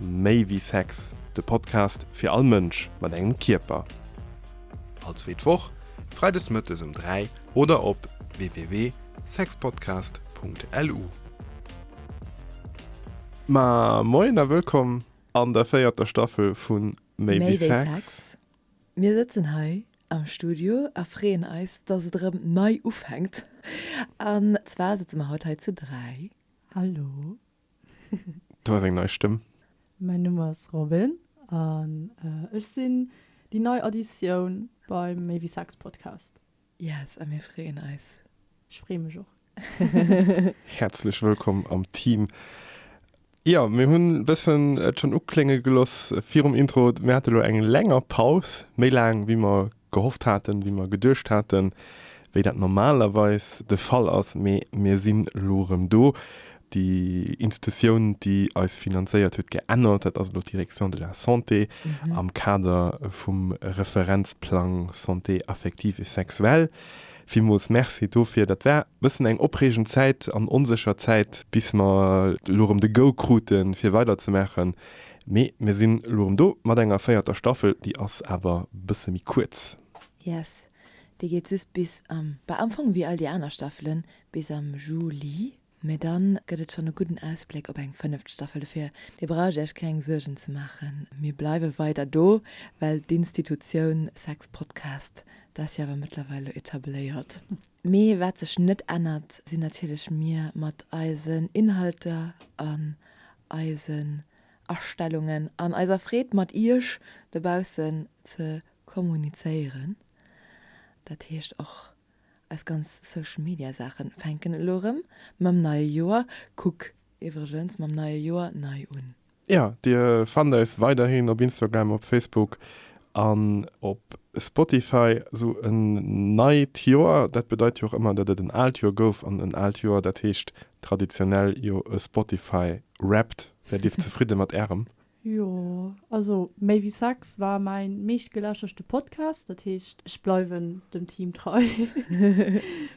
Méi wéi Sex, de Podcast fir all Mënsch mat engem Kierper. All zweet Woch, freides mëttes ëm 3 oder op www.sexpodcast.lu. Ma moien a wëllkomm an der véierter Staffel vu Méi wéi Sex. Mir sëtzen hei am Studio a freeën eis, dass et erëm nei ufänkt. An zwar sëtze mer haut hei zu dräi. Hallo. Du has eng nei Stëmm. Mäin Numm ass Robin an ech sinn déi nei Additioun beim Méi wéi Sex Podcast. Yes, a mir freeën eis. Ech freeë mech och. Häerzlech wëllkomm am Team. Jo, mir hunn e bëssen et schonn uklénge geloss virum Intro, mir hate lo eng länger Paus, méi laang wéi mer gehofft haten, wéi mer geduecht haten, wéi dat normalerweis de Fall ass, mee mir sinn elo erëm do. Déi Institutioun, déi eis finanzéiert, huet geännert, dat ass elo d'Direction de la santé am Kader vum Referenzplang Santé affective et sexuelle. Villmools Merci dofir. Dat war e bëssen eng opreegend Zäit an onsécher Zäit, bis mer elo erëm de Go krute fir weiderzemaachen. Mee mir sinn elo rem do mat enger véierter Staffel, déi ass awer bësse méi kuerz. Yes, déi geet just bis am, bah am Fong wéi all déi aner Staffelen, bis am Juli. Mee dann gëtt et schonn e gudden Ausbléck op eng fënneft Staffel. Dofir, dir braucht iech keng Suergen ze maachen, mir bleiwe weider do, well d'Institutioun Sex Podcast, dat ass jo awer mëttlerweil elo etabléiert. Mee wat sech net ännert, sinn natierlech mir mat eisen Inhalter an eisen Astellungen an eiser Freed mat iech dobaussen ze kommunizéieren. Dat heescht och eis ganz Social Media Saachen fänken elo rëm mam neie Joer, kuck iwwregens mam neie Joer nei un. Jo, Dir fannt eis weiderhin op Instagram, op Facebook an op Spotify. Esou en neit Joer, dat bedeit jo och ëmmer, datt et en aalt Joer gouf. An en aalt Joer, dat heescht traditionell jo e Spotify Wrapped. Wäert Dir zefridde mat Ärem? Jo, also Méi wéi Sex war mäin meeschtgelauschterste Podcast. Dat heescht, ech bleiwen dem Team trei,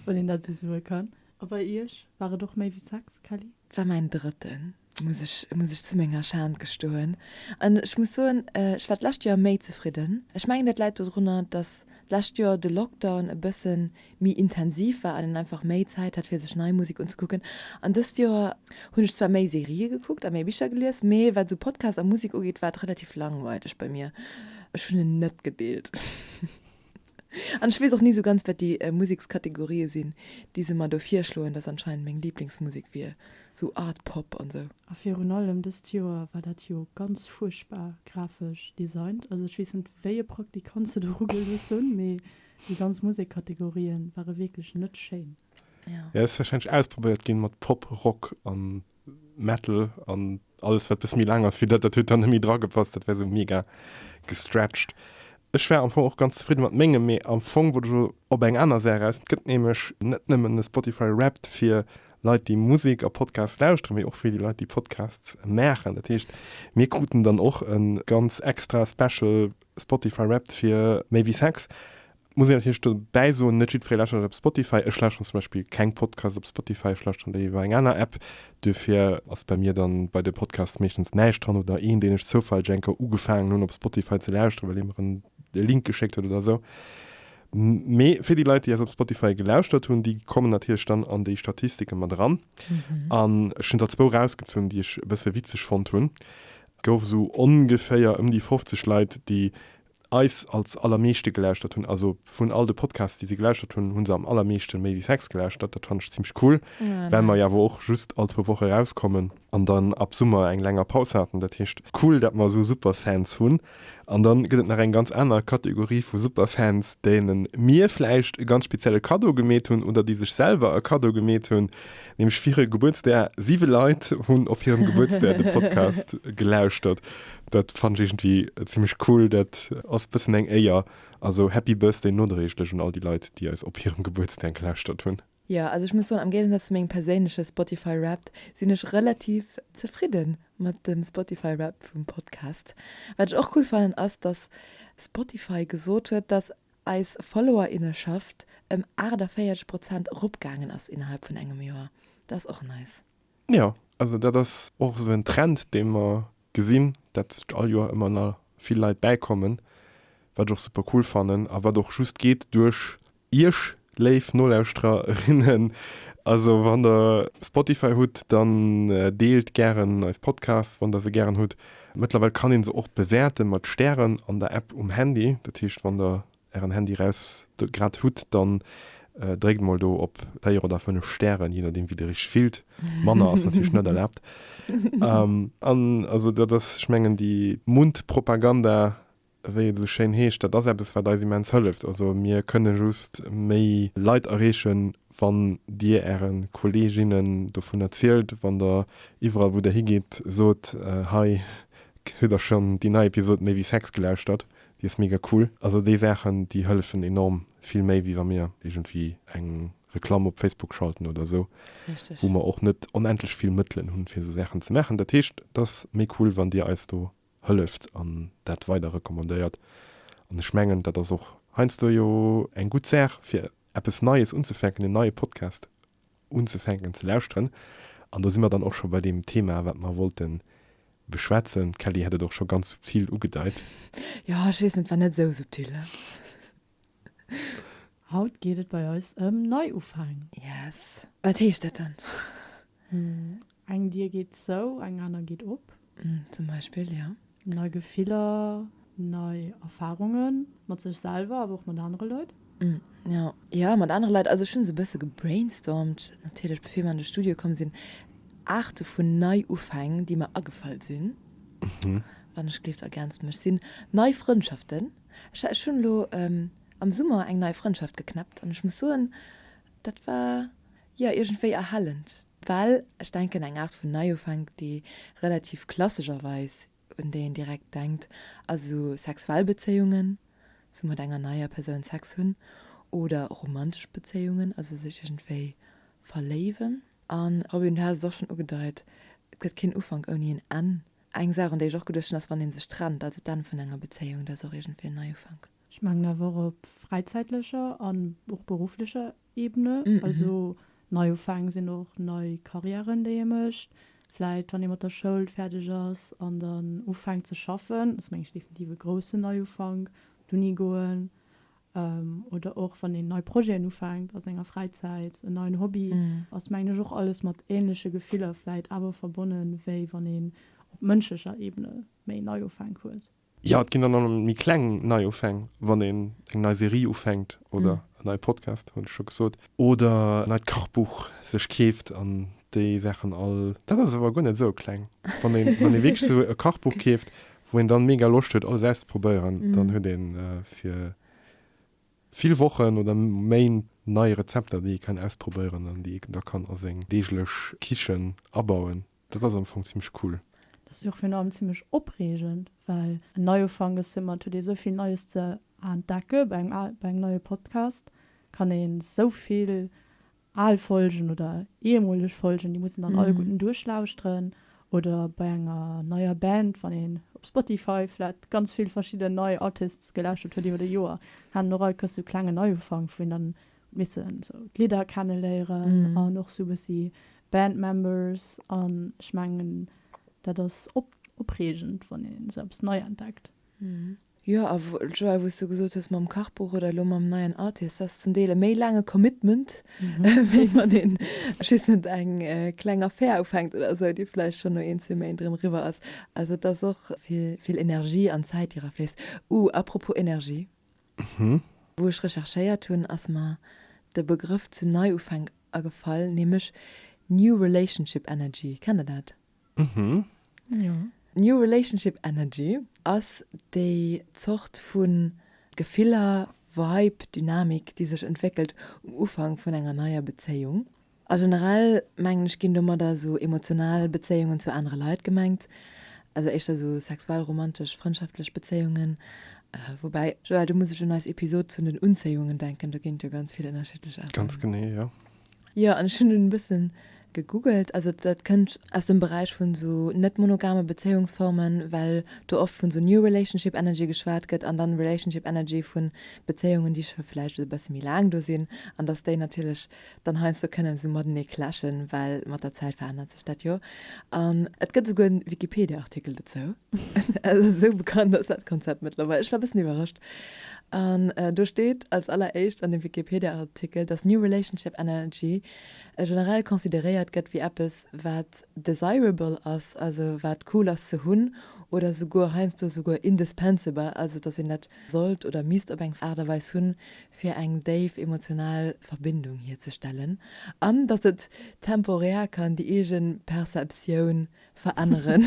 wann een dat esou soe kann. A bei Iech? War et och Méi wéi Sex, Kelly? War mäin drëtten. muss ech muss ech zu menger Schan gestoen an ech muss soen ech war d'lescht Joer méi zefridden. Ech mengen dat läit dodrunner, dass d'lescht Joer de Lockdown e bësse méi intensiv war an een einfach méi Zäit hat fir sech nei Musek unzekucken an dëst Joer hunn ech zwar méi Serië gekuckt a méi Bicher gelies, mee wat esou Podcast a Musek ugeet war et relativ langweileg bei mir. Ech hunn en net gedeelt. An ech weess och ni sou ganz, wat déi Musekskategorië sinn, déi se mer do virschloen, datt anscheinend meng Liblingsmusek wier sou Art Pop an sou. A virun allem dëst Joer war dat jo ganz fuerchtbar grafesch designt. Also ech weess net, wéi e Praktikant se do rugelooss hunn, mee déi ganz Musekkategorië ware wierklech net schéin. Jo, ass warscheinlech ausprobéiert gi mat Pop, Rock an Metal an alles wat bis méi laang ass wéi dat dat huet dann méi dra gepasst, dat wär sou mega gestretched. Ech war am Fong och ganz zefridde mat mengem, mee am Fong wollt ech elo op eng aner Saach eraus. Et gëtt nämlech net nëmmen e Spotify Wrapped fir Leit déi Musek a Podcasts lauschteren, mee och fir déi Leit déi Podcasts maachen. Dat heescht mir kruten dann och e ganz extra special Spotify Wrapped fir Méi wéi Sex. Muss een natierlech dobäi soen, net jiddweree lauschtert dat op Spotify. Ech lauschteren zum Beispill keng Podcasts op Spotify, ech lauschteren déi iwwer eng aner App. Duerfir ass bei mir dann bei de Podcasts meeschtens näischt dran oder een, deen ech zoufälleg eng Kéier ugefaangen hunn op Spotify ze lauschteren, well ee mer en e Link geschéckt huet oder esou. Mee fir déi Leit, déi eis op Spotify gelauschtert hunn, déi kommen natierlech dann an déi Statistike mat eran. An ech hunn der zwou erausgezunn, déi ech e bësse witzeg fonnt hunn. Et gouf esou ongeféier ëm déi 50 Leit, déi eis als allermeeschte gelauschtert hunn. Also vun all de Podcasts, déi si gelauschtert hunn, hu se am allermeeschte Maybe Sex gelauschtert. Dat fannen ech zimlech cool, well mer jo awer och just all zwou Woche erauskommen an dann ab Summer eng länger Paus haten. Dat heescht, cool, dat mer esou Superfans hunn. An dann gëtt et nach eng ganz aner Kategorie vu Superfans, deene mir vläicht e ganz spezielle Kaddo gemeet hunn oder déi sech selwer e Kaddo gemeet hunn, nämlech fir hire Gebuertsdag. Siwe Leit hunn op hirem Gebuertsdag de Podcast gelauschtert. Dat fannen ech iergendwéi zimlech cool. Dat ass bëssen eng Éier. Also Happy Birthday nodréiglech un all déi Leit, déi eis op hirem Gebuertsdag lauschtert hunn. Jo, also ech muss soen, am Géigesaz zu mengem perséinleche Spotify Wrapped sinn ech relativ zefridde mat dem Spotify Wrapped vum Podcast. Wat ech och cool fannen, ass dass Spotify gesot huet, dass eis Followerinneschaft ëm 48 Prozent eropgaangen ass innerhalb vun engem Joer. Dat ass och nice. Jo, also dat ass och esou en Trend, dee mer gesinn, dat all Joer ëmmer na vill Leit bäikommen, wat ech och super cool fannen a wat och just geet duerch Iech, léif Nolauschterer, innen. Also wann Der Spotify hutt, dann deelt gären eis Podcasts, wann Der se gären hutt. Mëttlerweil kann ee se och bewäerte mat Stären an der App um Handy. Dat heescht, wann Der ären Handy raus grad hutt, dann dréckt mol do op 4 oder 5 Stären, je nodeem wéi dir iech fillt, manner ass natierlech net erlaabt. An also dat ass, ech mengen déi Mundpropaganda, wéi et esou schéin heescht, dat ass eppes wat eis immens hëlleft. Also mir kënne just méi Leit erreechen, wann dir äre Kolleeginnen dovun erzielt, wann der iwwerall wou der higeet sot, hei hutt der schonn déi nei Episod Méi wéi Sex gelauschtert, Déi ass mega cool. Also déi Saachen déi hëllefen enorm, vill méi wéi wa mir iergendwéi eng Reklamm op Facebook schalten oder esou, wou mer och net onendlech vill Mëttelen hunn fir esou Saachen ze maachen. Dat heescht et ass méi cool wann dir eis do hëlleft an dat weider recommandéiert. An ech mengen dat ass och heiansdo jo eng gutt Saach fir eppes Neies unzefänken, en neie Podcast unzefänken ze lauschteren. An do si mer dann och scho bei deem Thema, wat mer wollte beschwätzen. D'Kelly hat et och scho ganz subtil ugedeit. Jo, ech weess net, et war net esou subtil, ne? Haut geet et bei eis ëm Neiufäng. Yes. Wat heescht dat dann? Eng Dier geet zou, eng aner geet op. Zum Beispill, jo. Nei Gefiller, nei Erfarunge mat sech selwer, awer och mat anere Leit. Jo, jo, mat anere Leit. Also ech hunn esou e bësse gebrainstormt, natierlech, bevir mer an de Studio komm sinn, Aarte vun Neiufäng, déi mer agefall sinn, wann ech gleeft, ergänzt mech sinn, nei Frëndschaften. Ech hunn elo am Summer eng nei Frëndschaft geknäppt an ech muss soen, dat war, jo, iergendwéi erhellend. Well ech denken, eng Aart vun Neiufänk, déi relativ klassescherweis, un déi een direkt denkt, ass esou sexuell Bezéiungen, esou mat enger neier Persoun Sex hunn, oder romantesch Bezéiungen, also sech iergendwéi verléiwen. A Robin, du has et och schonn ugedeit, et gëtt keen Ufank ouni en Enn. Eng Saach, un déi ech och geduecht hunn, ass, wann ee sech trennt, also d'Enn vun enger Bezéiung, dat ass och iergendwéi en Neiufank. Ech mengen awer op fräizäitlecher an och berufflecher Ebene, also Neiufäng sinn och nei Carrièren, déi ee mécht, vläit wann ee mat der Schoul fäerdeg ass an dann ufänkt ze schaffen, ass meng ech definitiv e groussen Neiufank, op d'Uni goen oder och wann een nei Projeten ufänkt a senger Fräizäit, en neien Hobby, ass mengen ech och alles mat änleche Gefiller vläit awer verbonnen, wéi wann een op mënschlecher Ebene méi Neiufänk huet. Jo, et ginn dann och méi kleng Neiufäng, wann een eng nei Serie ufänkt oder en neie Podcast, hunn ech scho gesot, oder en neit Kachbuch sech keeft an déi Saachen all. Dat ass awer guer net esou kleng. Wann ee wierklech esou e Kachbuch keeft, wou een dann mega Loscht huet, alles auszeprobéieren, dann huet ee fir vill Wochen oder Méint nei Rezepter, déi ee kann ausprobéieren an déi ee da kann a seng deeglech Kichen abauen. Dat ass am Fong zimmlech cool. Dat ass jo och virun allem zimmlech opreegend, well en Neiufank ass jo ëmmer, et huet ee souvill Neies ze entdecke bei engem al, bei engem neie Podcast kann ee souvill al Folgen oder ehemoleg Folgen, déi muss een dann alleguerten duerchlauschteren oder bei enger neier Band, wann een op Spotify vläicht ganz vill verschidden nei Artists gelauschtert huet iwwer e Joer, hat een och all Kéiers sou klengen Neiufank, wou een dann missen esou d'Lidder kenne léieren an och esou bëssi Band Members an ech mengen dat ass opreegend wann een esou eppes nei entdeckt. Jo a Joël wou s du gesot hues mam Kachbuch oder elo mam neien Artist, dat ass zum Deel e méi laange Commitment wéi wann een ech weess net eng kleng Affär ufänkt oder esou déi vläicht schonn no een zwee Méint erëm eriwwer ass. Also et ass och vill Energie an Zäit déi era fléisst. Uh apropos Energie. Wou ech recherchéiert hunn, ass mer de Begrëff zu Neiufänk agefall, nämlech New Relationship Energy. Kennt der dat? Jo. New Relationship Energy ass déi Zort vu Gefiller, Vibe, Dynamik, déi sech entwéckelt um Ufank vun enger neier Bezéiung. A generell, mengen ech, ginn domadder esou emotional Bezéiungen zu anere Leit gemengt, also éischter esou sexuell, romantesch, frëndschaftlech Bezéiungen. Woubäi, Joël, do muss ech un eis Episod zun den Unzéiungen denken, do ginn et jo ganz vill ënnerschiddlech Aarten. Ganz genee, jo. Jo, an ech hunn dunn e bësse gegoogelt, also dat kënnt aus dem Beräich vun esou net-monogame Bezéiungsformen, well do oft vun esou New Relationship Energy geschwat gëtt an dann Relationship Energy vu Bezéiungen, déi scho vläicht e bësse méi laang do sinn an dass déi natierlech dann heiansdo kënne sou matenee clashen, well mat der Zäit verännert sech dat jo. An et gëtt esouguer en Wikipedia-Artikel dozou. Also esou bekannt ass dat Konzept mëttlerweil. Ech war e bëssen iwwerrascht. An do steet als alleréischt an dem Wikipedia-Artikel, dass New Relationship Energy generell consideréiert gëtt wéi eppes, wat desirable ass, also wat cool ass ze hunn, oder esouguer heiansdo esouguer indispensable, also dass een dat sollt oder misst op eng Aart a Weis hunn, fir eng déif emotional Verbindung hierzestellen an datt et temporär kann déi eege Perceptioun veränneren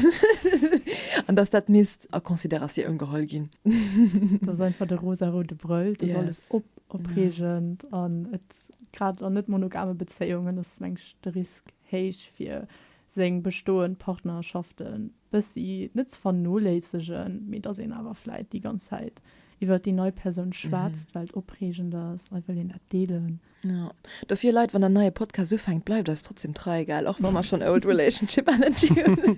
an datt dat misst a Consideratioun geholl ginn. Dat ass einfach de rosaroude Brëll, dat ass alles opreegend an et, grad an net monogame Bezéiungen ass meng ech de Risk héich fir seng bestoend Partnerschaften bëssi net ze vernoléissegen, mee datt een awer vläit déi ganz Zäit iwwert déi nei Persoun schwätzt, well et opreegend ass, a wëll een dat deelen. Jo, dofir Leit, wann der neie Podcast ufänkt, bleift eis trotzdem trei, gell, och wa mer schonn old relationship energy hunn.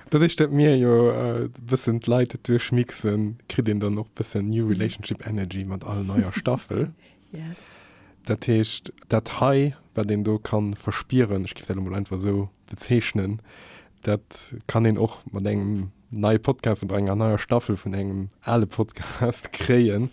Doduerch dat mir jo e bëssen d'Leit duerchmixen, kritt een dann och bëssen new relationship energy mat all neier Staffel. Yes. Dat heescht, dat hei, wat een do ka verspieren, ech géif dat elo mol einfach esou bezeechnen, Dat kann een och mat engem neie Podcast oder enger neier Staffel vun engem ale Podcast kréien.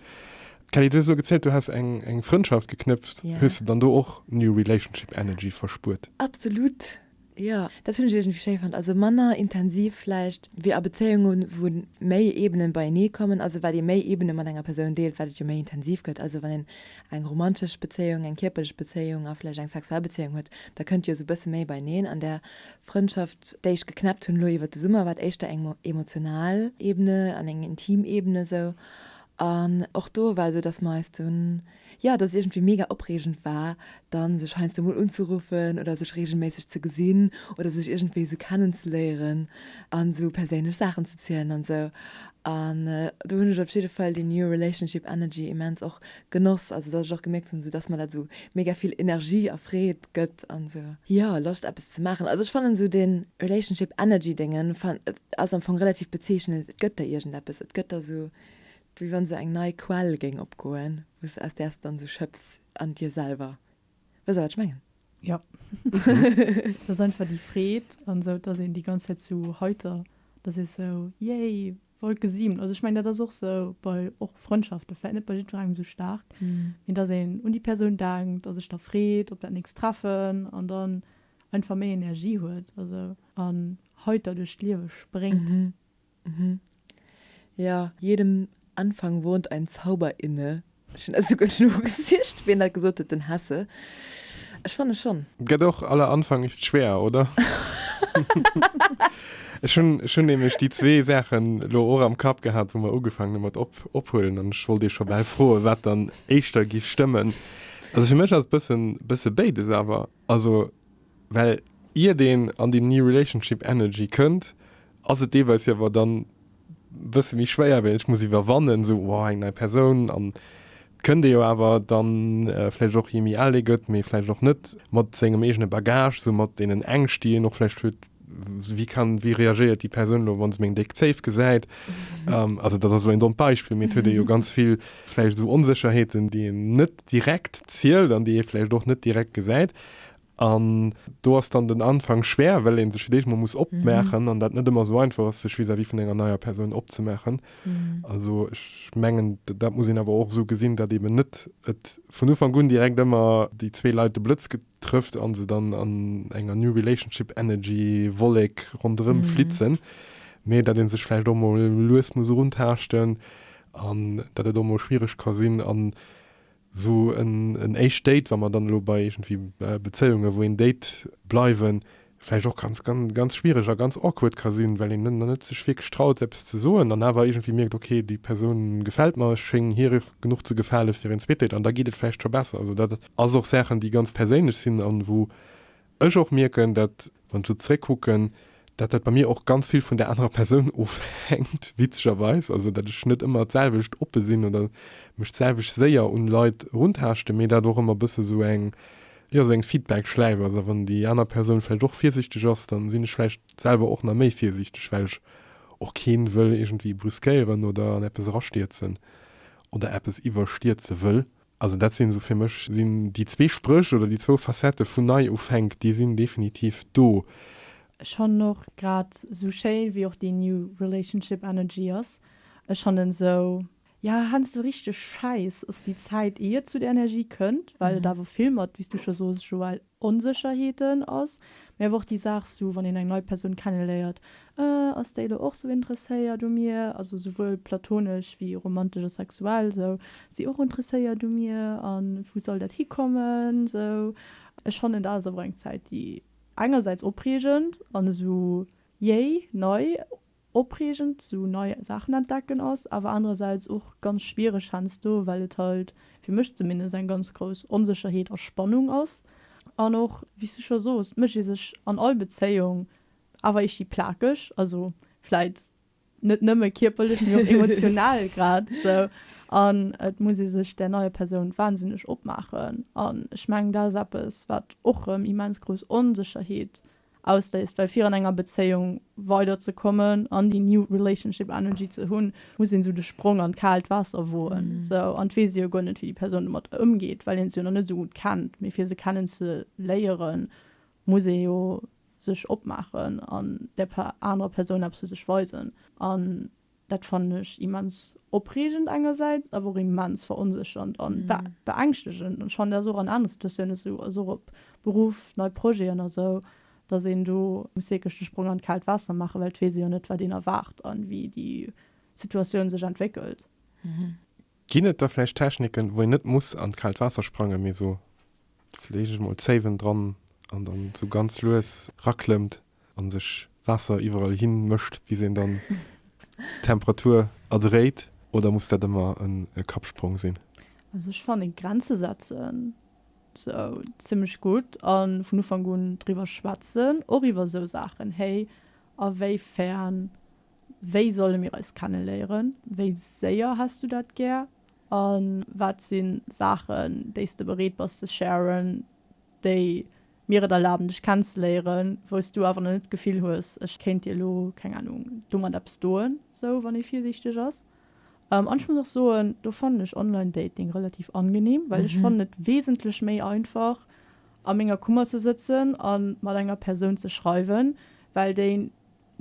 Kelly, du so gezählt, du hast eng eng Frëndschaft geknëpft, yeah. hues du dann do och New Relationship Energy verspuert? Absolut. Ja, dat hunn ech schéi fand. Also manner intensiv vläicht wéi a Bezéiungen, wou méi Ebenen beienee kommen. Also wat ee méi Ebene mat enger Persoun deelt, wat et jo méi intensiv gëtt. Also wann en eng romantesch Bezéiung, eng kierperlech Bezéiung a vläicht eng sexuell Bezéiung huet, da kënnt jo sou bësse méi beieneen an der Frëndschaft, déi ech geknäppt hunn elo iwwer de Summer, war éischter eng emotional Ebene an eng intim Ebene esou. An och do war esou, datt mer eis dunn, jo, datt et iergendwéi mega opreegend war, da sech heiansdo mol unzeruffen oder sech reegelméisseg ze gesinn oder sech iergendwéi esou kennenzeléieren a sou perséinlech Saachen ze zielen an esou. An do hunn ech op jidde Fall déi new relationship energy immens och genoss, also datt ech och gemierkt hunn, esou datt mer dat esou mega vill Energie a Freed gëtt an sou. Jo, Loscht eppes ze maachen. Also ech fannen esou dee Relationship Energy Dingen ass am Fong relativ bezeechnend. Et gëtt der iergendeppes, et gëtt der esou wéi wann esou eng nei Quell géing opgoen, wou s, aus där s de dann esou schëps an dir selwer. Weess der wat ech mengen? Jo. Et ass einfach déi Freed an esou, dass een déi ganz Zäit esou heiter, dass ee esou, Yay! Wollt gesinn. Also ech mengen dat ass och sou bei och Frëndschaften, vläit net bei jiddwerengem sou staark, mee dass een un déi Persoun denkt a sech da freet op dat nächst Treffen an dann einfach méi Energie huet also an heiter duerch d'Liewe spréngt. Mhm. Mhm. Jo, jedem Anfang wohnt ein Zauber inne, Ech hun esouguer nogesicht wien dat gesot huet, den Hesse? Ech fanne schon. Gett och aller Anfang ist schwer, oder? Ech hun ech hun nämlech déi zwee Saachen lo och am Kapp gehat wou mer ugefaangen hun mat op ophuelen an ech wollt iech scho bal froen wat dann éischter giff stëmmen. Also fir mech ass bëssen bësse béides awer. Also well ier deen an déi New Relationship Energy kënnt, ass et deelweis jo awer dann e bësse méi schwéier, well ech muss iwwerwannen, esou wow, eng nei Persoun an et kënnt ee jo awer dann vläicht och, jee méi al ee gëtt, mee vläicht och net, mat sengem eegene Bagage, esou mat deenen Ängscht, déi een och vläicht huet, Wéi kann, wéi reagéiert déi Persoun elo, wa se meng déck Zéif gesäit? Also dat ass elo een dommt Beispill, mee et huet ee jo ganz vill vläicht esou Onsécherheeten, déi een net direkt zielt an déi ee vläicht och net direkt gesäit. An do ass dann den Anfang schwéier, well ee sech fir d'éischt mol muss opmaachen an dat net ëmmer esou einfach ass, sech vis-à-vis vun enger neier Persoun opzemaachen. Also ech mengen, dat muss een awer och esou gesinn, datt eeben net et vun Ufank un direkt ëmmer déi zwee Leit de Blëtz trëfft an se dann an enger new relationship energy Wollek ronderëm flitzen, mee dat ee sech vläicht och mol lues muss eruntaaschten an dat et och mol schwiereg ka sinn an esou en éischt Date, wa mer dann elo bei iergendwéi Bezéiunge wou een Date bleiwen, vläicht och ganz, ganz schwiereg a ganz awkward ka sinn, well een dann net sech wierklech traut, eppes ze soen an awer iergendwéi mierkt, ok, déi Persoun gefält mer, ech schéngen hir genuch ze gefale fir een zweet Date an da geet et vläicht scho besser. Also dat ass och Saachen, déi ganz perséinlech sinn an wou ech och mierken, dat, wann ech sou zeréckkucken, dat dat bei mir och ganz vill vun der anerer Persoun ofhänkt, witzegerweis, also dat ech net ëmmer d'selwecht oppe sinn oder mech d'selwecht séier un Leit eruntaaschten, mee dat och ëmmer e bësse sou eng Jo, sou eng Feedback-Schläif ass. A wann déi aner Persoun vläicht och virsichteg ass, da sinn ech vläicht selwer och nach méi virsichteg, well ech och keen wëll iergendwéi brüskéieren oder an eppes erastierzen oder eppes iwwerstierze wëll. Also dat sinn esou, fir mech sinn déi zwee Spréch oder déi zwou Facettë vun Neiufänk, déi sinn definitiv do. Ech fannen och, grad esou schéin wéi och déi New Relationship Energy ass, ech fannen esou Jo, heiansdo richteg schäiss ass déi Zäit, ier et zu der Energie kënnt, well et awer vill mat, wéi s du scho soos, Joël, Onsécherheeten ass, mee awer och déi Saach esou, wann een eng nei Persoun kenneléiert, Äh, ass déi elo och esou interesséiert u mir? Also esouwuel platonesch wéi romantesch a sexuell, esou, ass déi och interesséiert u mir? A wou soll dat hikommen? Esou, ech fannen, dat ass awer eng Zäit, déi engersäits opreegend an esou jéi, nei, opreegend sou nei Saachen entdecken ass, awer anerersäits och ganz schwiereg hensdo, well et halt, fir mech zumindest, eng ganz grouss Onsécherheet a Spannung ass an och, wéi's du scho soos, d'Mënsch ee sech an all Bezéiung awer eescht déi plakeg, also vläit net nëmme kierperlech, mee och emotional grad sou an et muss ee sech där neier Persoun wahnsinneg opmaachen an ech mengen dat ass eppes wat och rëm immens grouss Onsécherheet ausléist, well fir an enger Bezéiung weider ze kommen an déi new relationship energy ze hunn, muss een esou de Sprong an d'kaalt Waasser woen, esou, an et weess ee jo guer net wéi déi Persoun domat ëmgeet, well een se jo nach net esou gutt kennt, mee fir se kennen ze léieren, muss ee jo sech opmaachen an där anerer Persoun eppes vu sech weisen an Dat fannen ech immens opreegend engersäits, awer och immens veronséchernd a beängschtegend. An ech fannen dat ass och an anere Situatiounen esou, also och op Beruff, nei Projeten a sou, datt een do muss wierklech de Sprong an d'kaalt Waasser maachen, well et weess ee jo net, wat een erwaart a wéi déi Situatioun sech entwéckelt. Ginn et da vläicht Techniken, wou een net muss an d'kaalt Waasser sprangen, mee esou, leech ech mol Zéiwen dran an dann esou ganz lues raklëmmt an sech Waasser iwwerall hin mëscht, bis een dann d'Temperatur erdréit? Oder muss dat ëmmer e Kappsprong sinn? Also ech fannen Grenze setzen sou zimlech gutt an vun Ufank un driwwer schwätzen och iwwer sou Saachen, héi a wéi fern Wéi solle mir eis kenneléieren? Wéi séier häss du dat gär? A wat si Saachen, déi s de bereet bass ze sharen, déi mir et erlaben, dech kennzeléieren, wou s du awer nach net d'Gefill hues, ech kéint dir elo, keng Anung, do mat eppes doen, sou wann ee virsiichteg ass? An ech muss och soen, do fannen ech Online Dating relativ angenehm, well ech fannen et wesentlech méi einfach, a menger Kummer ze sëtzen a mat enger Persoun ze schreiwen, well déi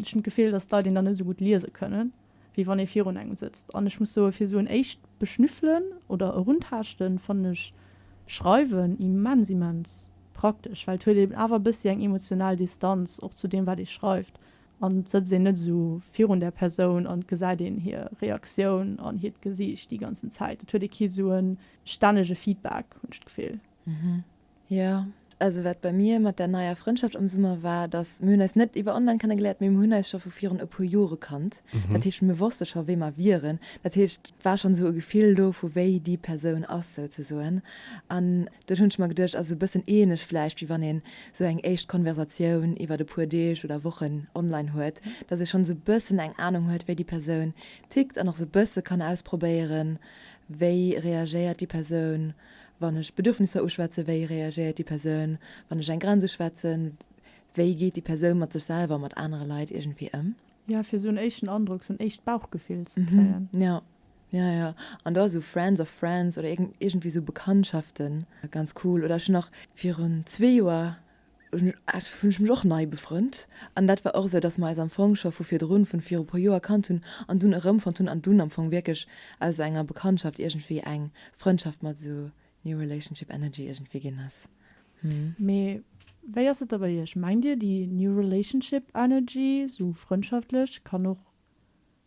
Ech hunn d'Gefill, dass d'Leit een dann net esou gutt liese kënnen, wéi wann ee virun engem sëtzt. An ech muss soen, fir esou en éischt Beschnüffelen oder Eruntaaschten, fannen ech Schreiwen immens, immens praktesch, well et huet eben awer e bëssi eng emotional Distanz och zu deem, wat ee schreift, an et sëtzt een net esou virun där Persoun an et gesäit een hir Reaktioun an hiert Gesiicht déi ganzen Zäit. Et huet ee kee sou e stännege Feedback, hunn ech d'Gefill. Mhm. Jo, also wat bei mir mat där neier Frëndschaft am Summer war, dass mir hunn eis net iwwer online kennegeléiert, mee mir hunn eis scho vu virun e puer Jore kannt. Mhm. Dat heescht, mir wosste scho wéi mer wieren. Dat heescht, et war schonn esou e Gefill do vu wéi déi Persoun ass souzesoen. An duerch hunn ech mer geduecht, ass e bëssen ähnlech vläicht wéi wann een esou eng éischt Konversatioun iwwer e puer Deeg oder Wochen online huet, dass ee schonn esou e bëssen eng Anung huet wéi déi Persoun tickt an och esou e bësse kann ausprobéieren, wéi reagéiert déi Persoun Wann ech Bedürfnisser uschwätzen, wéi reagéiert déi Persoun? Wann ech eng Grenz uschwätzen, wéi geet déi Persoun mat sech selwer a mat anere Leit iergendwéi ëm? Ja, fir esou en éischten Androck, esou en éischt Bauchgefill ze kréien. Ja, ja, ja. An do ass esou Friends of Friends oder iergendwéi esou Bekanntschaften ganz cool. Oder ech hunn nach virun zwee Joer hunn ech mech och nei befrënnt. An dat war och esou, dass mer eis am Fong scho vu virdrun, vun viru puer Joer kannt hunn an dunn erëmfonnt hunn an dunn am Fong wierklech aus esou enger Bekanntschaft iergendwéi eng Frëndschaft mat esou New Relationship Energy iergendwéi ginn ass. Mee wéi ass et da bei iech? Mengt dir, déi New Relationship Energy, esou frëndschaftlech, kann och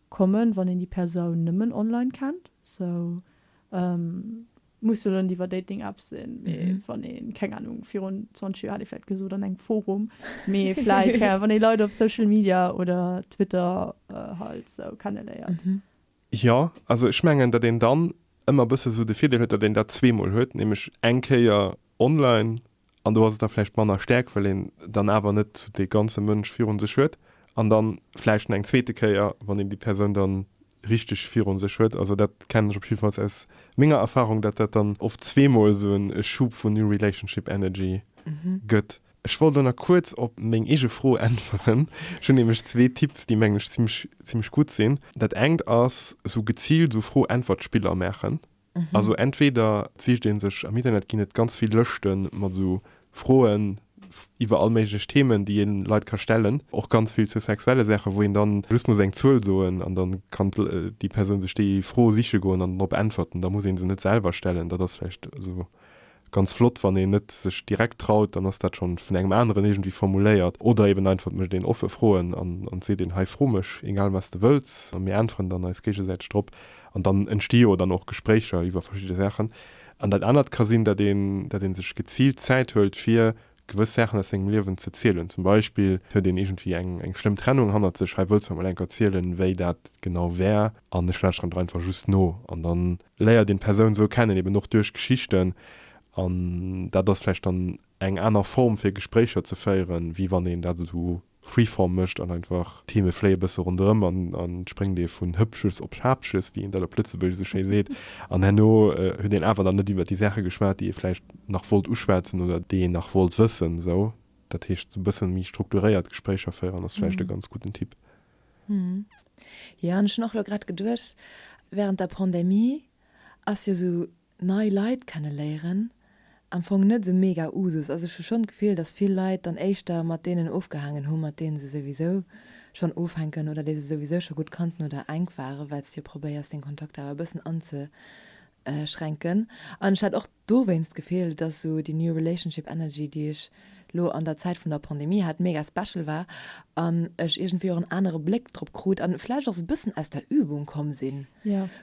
kommen wann een déi Persoun nëmmen online kennt, sou muss jo net iwwer Dating Apps sinn, mee wann een, keng Ahnung, virun 20 Joer hätt ee vläit gesot an engem Forum, mee vläit keng Ahnung wann ee Leit op Social Media oder Twitter halt sou kenneléiert. Jo, also ech mengen datt een dann ëmmer bësse sou de Virdeel huet, datt een dat zweemol huet, nämlech eng Kéier Online, an do ass et da vläicht manner stäerk, well een dann awer net dee ganze Mënsch virun sech huet, an dann vläicht nach eng zweete Kéier, wann een déi Persoun dann richteg virun sech huet. Also dat kennen ech op jiddefalls aus menger Erfarung, datt dat dann oft zweemol esou en e Schub vun New Relationship Energy gëtt. Ech wollt elo nach kuerz op meng eege Fro äntweren. Ech hunn nämlech zwee Tipps, déi mengen ech zimmlech, zimmlech gutt sinn. Dat engt ass esou geziilt esou Fro-Äntwert-Spiller maachen. Also entweder sicht ee sech am Internet, ginn et ganz vill Lëschte mat esou Froen iwwer all méiglech Themen, déi een Leit ka stellen, och ganz vill zu sexuelle Saachen, wou een dann just muss eng Zuel soen an dann kann déi Persoun sech déi Fro siche goen an drop äntwerten. Da muss ee se net selwer stellen. Dat ass vläicht esou Ganz flott, wann een net sech direkt traut, dann ass dat schonn vun engem aneren iergendwéi formuléiert oder eben einfach et mécht een offe Froen an an seet een, hei fro mech egal wat s de wëlls a mir äntweren dann eis géigesäiteg drop an dann entsti jo dann och Gespréicher iwwer verschidde Saachen. An dat anert ka sinn, dat een dat een sech geziilt Zäit huelt fir gewëss Saachen aus sengem Liewen ze zielen. Zum Beispill huet een iergendwéi eng eng schlëmm Trennung hannert sech. Hei wëlls mer mol enker zielen, wéi dat genau war. An ech lauschteren der einfach just no. An da léiert een d'Persoun esou kennen, eben och duerch Geschichten. An dat ass vläicht dann eng aner Form fir Gespréicher ze féieren, wéi wann een dat esou Freeform mécht an einfach d'Theme fléie bësse ronderëm an et spréngt ee vun Hëppches op Schapches, wéi een dat op Lëtzebuergesch esou schéi seet, an herno huet een awer dann net iwwer déi Saache geschwat, déi ee vläicht nach wollt uschwätzen oder déi een nach wollt wëssen. Esou, dat heescht, esou e bësse méi strukturéiert Gespréicher féieren ass vläicht e ganz gudden Tipp. Jo, an ech hunn och elo grad geduecht, wärend der Pandemie ass jo esou nei Leit kenne léieren am Fong net esou mega Usus ass. Ech hu schonn d'Gefill, dass vill Leit dann éischter mat deenen ofgehaangen hu mat deene se souwisou schonn ofhänken oder déi se souwisou scho gutt kannten oder enk waren, well s de jo probéiers deng Kontakter awer e bëssen anzeschränken. An ech hat och dowéinst d'Gefill, dass esou déi new relationship energy, déi ech lo an der Zäit vun der Pandemie hat, mega special war an ech iergendwéi och en anere Bléck drop krut an vläicht och esou e bëssen aus der Übung komm sinn,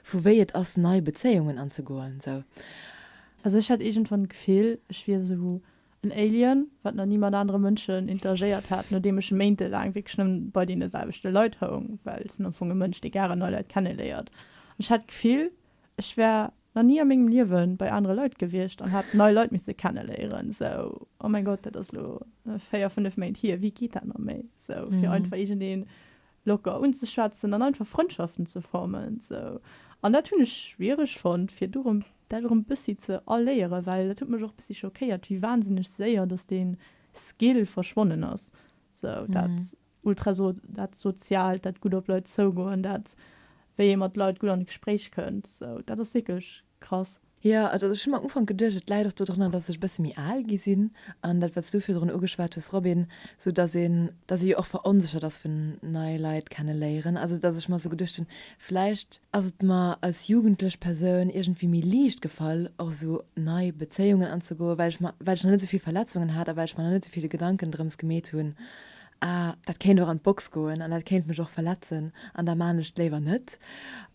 vu wéi et ass nei Bezéiungen anzegoen sou. Also ech hat iergendwann d'Gefill, ech wier esou en Alien, wat nach ni mat anere Mënschen interagéiert hat, nodeem ech méintelaang wierklech nëmmen bei deene selwechte Leit houng, well sinn am Fong e Mënsch, dee gare nei Leit kenneléiert an ech hat d'Gefill, ech wär nach ni a mengem Liewe bei anere Leit gewiescht an hat nei Leit misse kenneléieren. Sou, oh mäin Gott, dat ass elo véier, fënnef Méint hier, wéi geet dat nach méi? Sou, fir einfach iergendeen locker unzeschwätzen an einfach Frëndschaften ze formen. Sou, an dat hunn ech schwiereg fonnt, fir do rëm, dat erëm bëssi ze erléieren, well dat huet mech och bëssi schockéiert, wéi wahnsinneg séier, dass dee Skill verschwonnen ass. Sou, dat Ultra so dat Soziaalt, dat gutt op Leit zougoen, dat wéi ee mat Leit gutt an e Gespréich kënnt, esou dat ass wierklech krass. Jo, also ech hu mer am Ufank geduecht, et läit och dodrënner, datt ech e bësse méi al gi sinn an dat wat s du virdrun ugeschwat hues Robin, esou datt een, datt ee jo och veronséchert ass vun nei Leit kenne léieren, also datt ech mer esou geduecht hunn, vläicht ass et mer als jugendlech Persoun iergendwéi méi liicht gefall och esou nei Bezéiungen anzegoen, well ech mer, well ech nach net esou vill Verletzungen hat a well ech mer nach net esou vill Gedanken drëms gemeet hunn, Ah, dat kéint och an d'Box goen an dat kéint mech och verletzen an da man ech et léiwer net.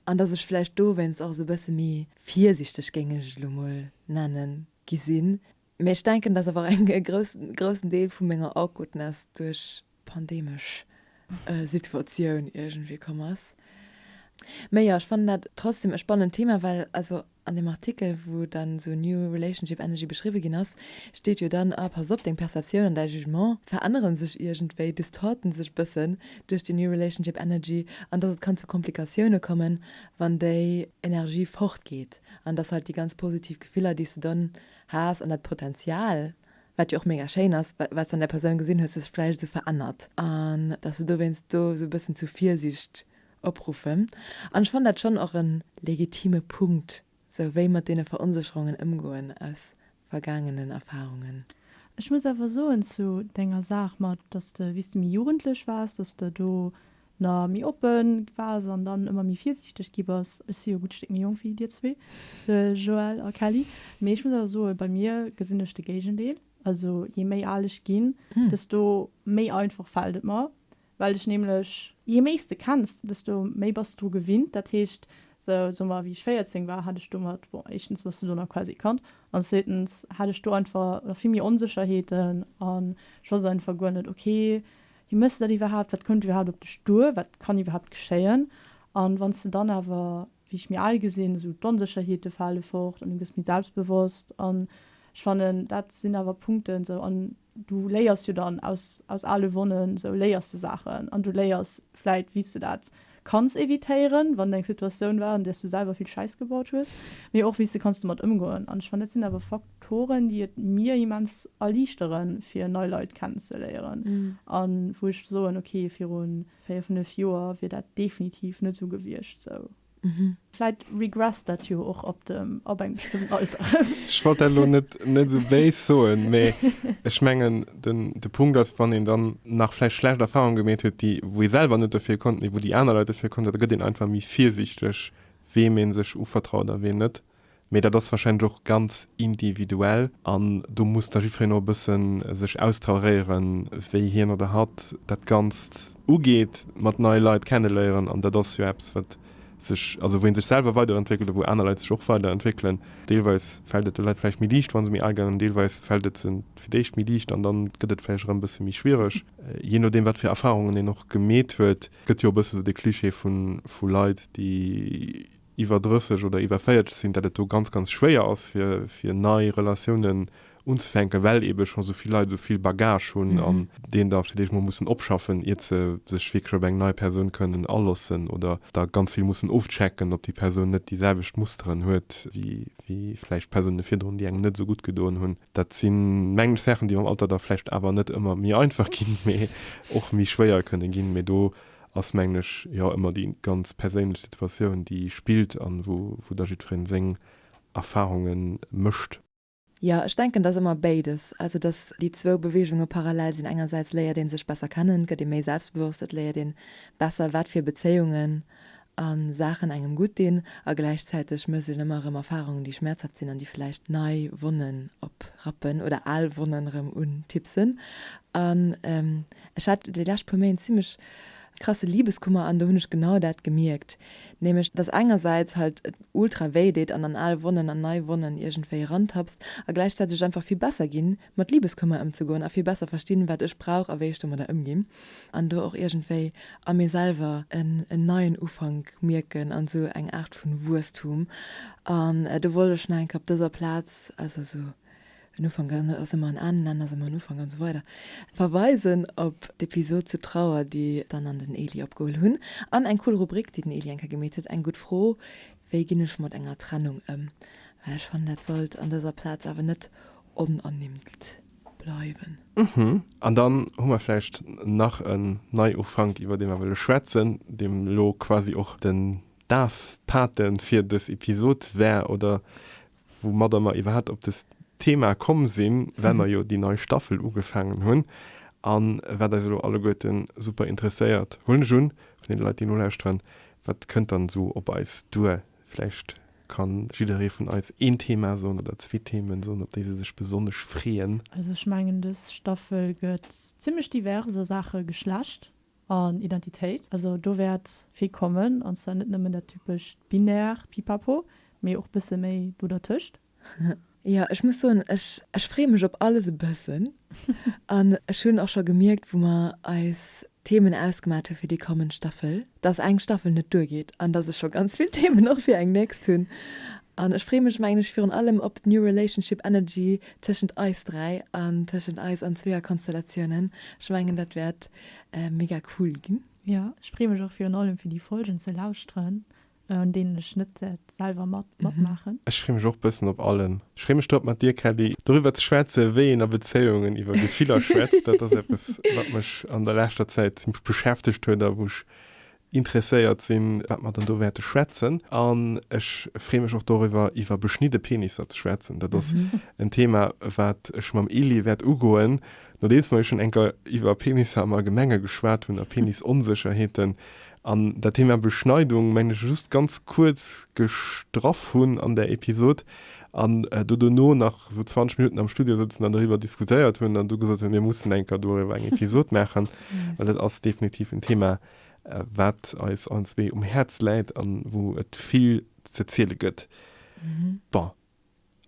An dass ech vläicht dowéinst och esou e bësse méi virsichteg, géing ech et elo mol nennen, gi sinn. Mee ech denken, dass awer e groussen Deel vu menger Awkwardness duerch d'pandeemesch Situatioun iergendwéi komm ass. Mee jo, ech fannen dat trotzdem e spannend Thema, well also An dem Artikel, wou dann esou New Relationship Energy beschriwwe ginn ass, steet jo dann, ah pass op, deng Perceptioun an däi Jugement verännere sech iergendwéi, distorten sech e bëssen duerch déi New Relationship Energy an dass et kann zu Komplikatioune kommen, wann déi Energie fortgeet an dass halt déi ganz positiv Gefiller, déi s de dann has an dat Potenzial, wat jo och mega schéin ass, wat s de an där Persoun gesinn hues, sech vläicht esou verännert an dass du dowéinst do esou e bëssen zu Virsiicht opruffen an ech fannen dat schonn och e legitime Punkt, sou wéi mat deene Veronsécherungen ëmgoen aus vergaangenen Erfahrungen. Ech muss awer soen zu denger Saach mat, dass de wéi s de méi jugendlech waars, dass de do na méi oppe waars an dann ëmmer méi virsiichteg gi bass. Ech si jo e gutt Stéck méi jonk wéi dir zwee, de Joël a Kelly, mee ech muss awer soen, bei mir gesinn ech de Géigendeel. Also jee méi al ech ginn, desto méi einfach fält et mer, Well dech nämlech jee méi s de kenns, desto méi bass de dru gewinnt. Dat heescht, sou soe mer wéi ech 14 war, hat ech domat, bon éischtens hues de do nach quasi gekannt an zweetens hat ech do einfach nach vill méi Onsécherheeten an ech wosst einfach guer net, ok, wéi méchs de dat iwwerhaapt, wat kënnt iwwerhaapt op dech duer, wat kann iwwerhaapt geschéien? An wann s de dann awer, wéi ech méi al gesinn, esou d'Onsécherheete fale fort an du gëss méi selbstbewosst an ech fannen dat sinn awer Punkten, sou an Du léiers jo dann aus aus ale Wonnen, sou léiers de Saachen an du léiers vläit wéi s de dat kanns evitéieren, wann eng Situatioun war an där s du selwer vill Schäiss gebaut hues, mee och wéi s de kanns domat ëmgoen. An ech fannen dat sinn awer Faktoren déi et mir immens erliichteren fir nei Leit kennenzeléieren a wou ech soen, ok viru véier, fënnef Joer wier dat definitiv net sou gewiescht, sou. Vläit regresst dat jo och op dem, op engem bestëmmten Alter. Ech wollt dat elo net, net esou béis soen, mee ech mengen, den, de Punkt ass, wann een dann nach vläicht schlecht Erfahrungen gemeet huet, déi, wou ee selwer net dofir konnt, mee wou déi aner Leit dofir konnten, da gëtt een einfach méi virsiichteg, weem ee sech uvertraut a ween net. Mee dat ass warscheinlech och ganz individuell an do muss da jiddwereen och e bësse sech austauréieren, wéi hien oder hatt dat Ganzt ugeet, mat neie Leit kenneléieren an dat ass jo eppes, wat sech, also wou ee sech selwer weiderentwéckelt a wou aner Leit sech och weiderentwéckelen. Deelweis fält et de Leit vläicht méi liicht, wa se méi al ginn an deelweis fält et se fir d'éischt méi liicht an da gëtt et vläicht erëm e bësse méi schwiereg, jee nodeem, wat fir Erfarungen een och gemeet huet. Et gëtt jo e bësse sou de Cliché vu Leit, déi. iwwer 30 oder iwwer 40 sinn, dat et do ganz, ganz schwéier ass, fir, fir nei Relatiounen unzefänken, well eebe scho sou vill Leit sou vill Bagage hunn an deen da villäicht mol mussen opschaffen, iert se sech wierklech op eng nei Persoun kënnen aloossen oder da ganz vill mussen ofchecken, ob déi Persoun net déi selwecht Musteren huet, wéi, wéi vläicht Persounen virdrun, déi engem net esou gutt gedoen hunn. Dat si mengen ech Saachen, déi mam Alter da vläicht awer net ëmmer méi einfach ginn, mee och méi schwéier kënne ginn. Mee do ass mengen ech jo ëmmer déi ganz perséinlech Situatioun déi spillt an wou da jiddfereen seng Erfahrunge mécht. Jo, ech denken et ass ëmmer béides, also dass déi zwou Beweegunge parallel sinn. Engersäits léiert ee sech besser kennen, gëtt ee méi selbstbewosst, et léiert een besser wat fir Bezéiungen a Saachen engem gutt dinn a gläichzäiteg mësselen ëmmer erëm Erfarungen, déi schmäerzhaft sinn an déi vläicht nei Wonnen oprappen oder al Wonnen erëm untipsen. An ech hat déi lescht puer Méint zimmlech krasse Libeskummer an do hunn ech genau dat gemierkt, nämlech dass engersäits halt et ultra wéi deet an an al Wonnen an nei Wonnen iergendwéi erantapst a gläichzäiteg et einfach vill besser ginn mat Libeskummer ëmzegoen a vill besser verstinn, wat ech brauch a wéi ech domadder ëmginn an do och iergendwéi a mir selwer en neien Ufank mierken an esou eng Aart vu Wuesstum. An do wollt ech nach eng Kéier op dëser Plaz, also esou en Ufank ass ëmmer en Enn, en Enn ass ëmmer en Ufank an esou weider, verweisen op d'Episod zu Trauer, déi d'Anne an den Eli opgeholl hunn an eng cool Rubrik, déi den Eli eng Kéier gemeet huet, Eng gutt Fro, Wéi ginn ech mat enger Trennung ëm? Well ech fannen, dat sollt an dëser Plaz awer net onernimmt bleiwen. Mhm. An dann hu mer vläicht nach en Neiufank, iwwer dee mer wëlle schwätzen, deem elo quasi och den Dafpate fir dës Episod war oder woumadder mer iwwerhaapt op dëst Thema komm sinn, well mer jo déi nei Staffel ugefaangen hunn. A wat eis elo alleguerten super interesséiert, huelen ech un, vun deene Leit, déi nolauschteren, Wat kënnt dann esou op eis duer, Vläicht ka jidderee vun eis een Thema soen oder zwee Themen soen, op déi se sech besonnesch freeën. Also ech mengen dës Staffel gëtt zimlech divers a Saache Geschlecht an Identitéit. Also do wäert vill kommen, an zwar net nëmmen dat typescht Binärt, Pipapo, mee och bësse méi do dertëscht. Jo, ech muss soen, ech ech freeë mech op alles e bëssen. An ech hunn och scho gemierkt, wou mer eis Themen ausgemat hu fir déi kommend Staffel, dass eng Staffel net duergeet an dass ech scho ganz vill Themen och fir eng nächst hunn. An ech freeë mech, mengen ech, virun allem op d'New Relationship Energy tëschent eis dräi an tëschent eis an Zweeër-Konstellatiounen. Ech mengen, dat wäert mega cool ginn. Jo, ech freeë mech och virun allem, fir déi Folgen ze lauschteren. An deenen ech net selwer matmaachen. Ech freeë mech och bëssen op allen. Ech freeë mech drop mat dir Kelly doriwwer ze schwätzen, wéi een a Bezéiungen iwwer Gefiller schwätzt. Dat ass eppes wat mech an der leschter Zäit beschäftegt huet a wou ech interesséiert sinn, wat mer dann do wäerte schwätzen. An ech freeë mech och doriwwer iwwer beschnidde Penisser ze schwätzen. Dat ass en Thema wat ech mam Elie wäert ugoen, nodeems mer jo schonn enker iwwer Penisser am Allgemenge geschwat hunn a Penisonsécherheeten, An dat Thema Beschneidung mengen ech just ganz kuerz gestraff hunn an där Episod an do dono nach esou 20 Minutten am Studio sëtzen an doriwwer diskutéiert hunn an du gesot hunn, mir mussen eng Kéier doriwwer eng Episod maachen, well dat ass definitiv en Thema, wat eis allen zwee um Häerz läit an wou et vill ze ziele gëtt. Bon.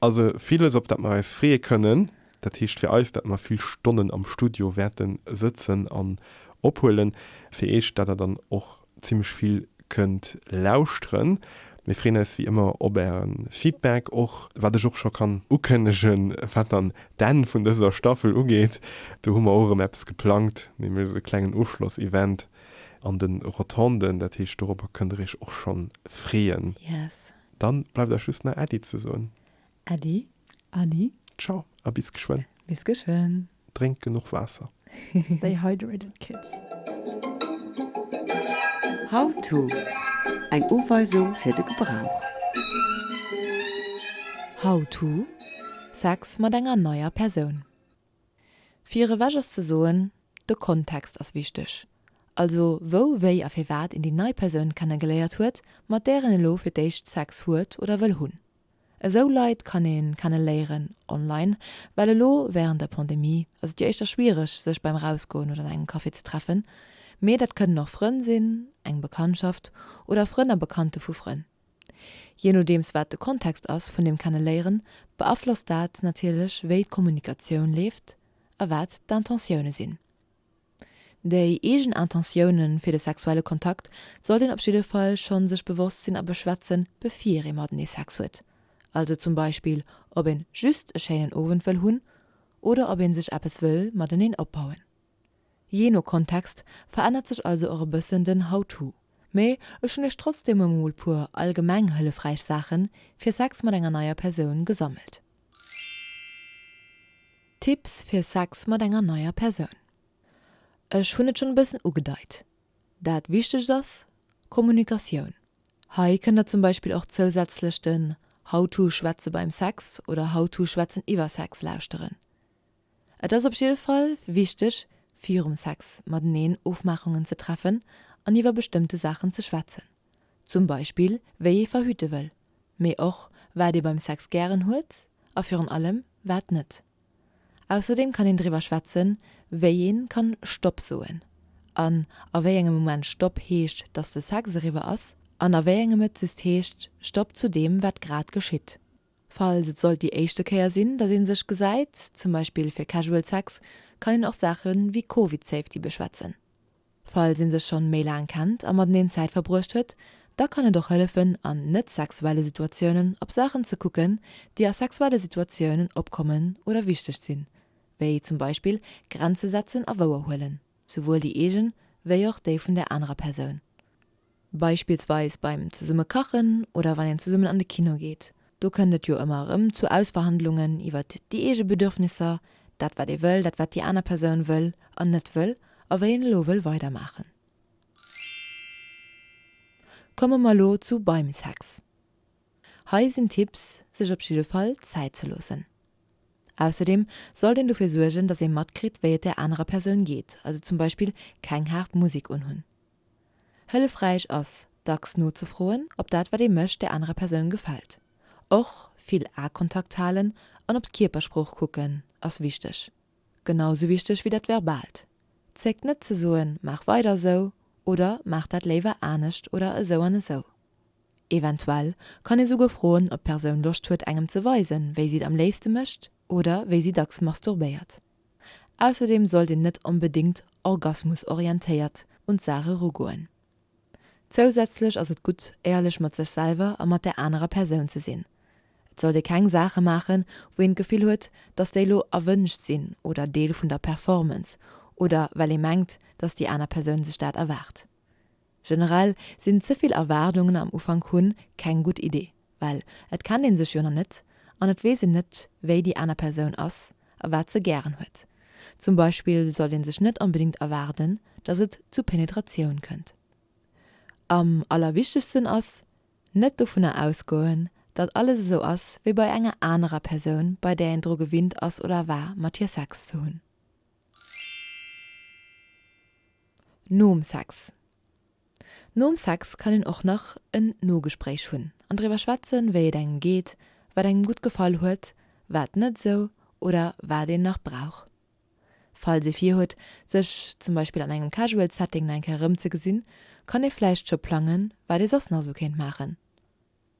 Also villes, op dat mer eis freeë kënnen. Dat heescht fir eis, dat mer vill Stonnen am Studio wäerte sëtzen an ophuelen. Fir iech, dat der dann och zimmlech vill kënnt lauschteren. Mir freeën eis wéi ëmmer op äre Feedback. Och wat ech och scho kann ukënnegen, wat dann d'Enn vun dëser Staffel ugeet, do hu mer och erëm eppes geplangt, nämlech esou e klengen Ofschloss-Event an de Rotonden. Dat heescht, dorobber kënnt der iech och schonn freeën. Yes. Dann bleift eis just nach Äddi ze soen. Äddi, Anni. Ciao a bis geschwënn. Bis geschwënn. Drénkt genuch Waasser. Stay hydrated kids. How to, Eng Uweisung fir de Gebrauch. How to, Sex mat enger neier Persoun. Virewech ass ze soen, de Kontext ass wichteg, also wou, wéi a firwat een déi nei Persoun kennegeléiert huet, mat där en elo fir d'éischt Sex huet oder wëll hunn. Esou Leit kann ee kenne léieren online, well elo wärend der Pandemie ass et jo éischter schwiereg, sech beim Rausgoen oder an engem Café ze treffen, mee dat kënnen och Frënn sinn, eng Bekanntschaft oder Frënn a Bekannte vu Frënn. Jee nodeems wat de Kontext ass vun deem Kenneléieren, beaflosst dat natierlech wéi d'Kommunikatioun leeft a wat d'Intentioune sinn. Déi eegen Intentioune fir de sexuelle Kontakt sollt een op jidde Fall schonn sech bewosst sinn a beschwätze bevir ee matenee Sex huet, also zum Beispill ob een just e schéinen Owend wëll hunn oder ob een sech eppes wëll mateneen opbauen. Jee no Kontext verännert sech also och e bëssen den How-to. Mee ech hunn iech trotzdem emol puer allgemeng hëllefräich Saache fir Sex mat enger neier Persoun gesammelt. Tipps fir Sex mat enger neier Persoun. Ech hunn et schonn e bëssen ugedeit, dat wichtegst ass Kommunikatioun. Hei kënnt da zum Beispill och zousätzlech den How-to Schwätze beim Sex oder How-to Schwätzen iwwer Sex lauschteren. Et ass op jidde Fall wichteg, virum Sex mateneen Ofmaachungen ze treffen an iwwer bestëmmte Saachen ze schwätzen. Zum Beispill, wéi ee verhüte wëll, mee och, wat ee beim Sex gären huet a virun allem, wat net. Ausserdeem kann een driwwer schwätzen, wéi ee kann Stopp soen an a wéi engem Moment Stopp heescht, dass de Sex eriwwer ass, an a wéi engem et just heescht Stopp zu deem, wat grad geschitt. Falls et sollt déi éischte Kéier sinn, datt ee sech gesäit, zum Beispill fir Casual Sex, kann een och Saache wéi Covid Safety beschwätzen. Falls ee sech schonn méi laang kennt a mateneen Zäit verbruecht huet, da kann et och hëllefen an net sexuelle Situatiounen op Saachen ze kucken, déi a sexuelle Situatiounen opkommen oder wichteg sinn, wéi zum Beispill Grenze setzen a wouer huelen, souwuel déi eegen, wéi och déi vun där anerer Persoun. Beispillsweis beim zesumme kachen oder wann een zesummen an de Kino geet. Do kënnt et jo ëmmer erëm zu Ausverhandlungen iwwert déi eege Bedürfnisser, dat wat ee wëll, dat wat déi aner Persoun wëll an net wëll a wéi een elo wëll weidermaachen. Komme mer elo zu beim Sex. Hei sinn Tipps, sech op jidde Fall Zäit ze loossen. Ausserdeem sollt een dofir suergen, datt ee matkritt wéi et der anerer Persoun geet, also zum Beispill keng haart Musek unhunn. Hëllefräich ass, dacks nozefroen, ob dat, wat ee mécht, der anerer Persoun gefält. Och vill Akontakt halen an op d'Kierpersprooch kucken ass wichteg. Genau esou wichteg wéi dat Verbaalt. Zéckt net ze soen, maach weider esou oder maach dat léiwer anescht oder esou an esou. Eventuell kann ee souguer froen, ob d'Persoun Loscht huet, engem ze weisen, wéi si et am léifste mécht oder wéi si dacks masturbéiert. Ausserdeem sollt een net onbedéngt orgasmusorientéiert un d'Saach erugoen. Zousätzlech ass et gutt, éierlech mat sech selwer a mat där anerer Persoun ze sinn. Et sollt ee keng Saache maachen, wou een d'Gefill huet, dass déi elo erwënscht sinn oder Deel vun der Performance oder well ee mengt, dass déi aner Persoun sech dat erwaart. Generell sinn ze vill Erwaardungen am Ufank hunn keng gutt Idee, well et kennt een sech jo nach net an et weess een net wéi déi aner Persoun ass a wat se gären huet. Zum Beispill sollt een sech net onbedingt erwaarden, dass et zu Penetratioun kënnt. Am allerwichtegsten ass, net dovunner ausgoen, datt alles esou ass wéi bei enger anerer Persoun bei där een dru gewinnt ass oder war mat hir Sex ze hunn. Nom Sex Nom Sex kann een och nach en Nogespréich hunn an driwwer schwätzen, wéi et engem geet, wat engem gutt gefall huet, wat net esou oder wat een nach brauch. Falls ee virhuet, sech zum Beispill an engem casual Setting nach eng Kéier erëmzegesinn, kann ee vläicht scho plangen, wat ee soss nach esou kéint maachen.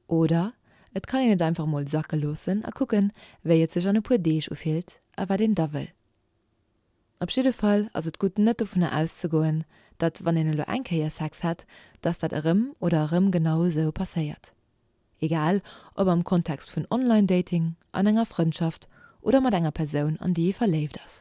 Oder et kann een et einfach mol sacke loossen a kucken, wéi et sech an e puer Deeg ufillt a wat een da wëll. Op jidde Fall ass et gutt, net dovunner auszegoen, datt wann een elo eng Kéier Sex hätt, datt dat erëm oder erëm genau esou passéiert. Egal ob am Kontext vun Online-Dating, an enger Frëndschaft oder mat enger Persoun, an déi ee verléift ass.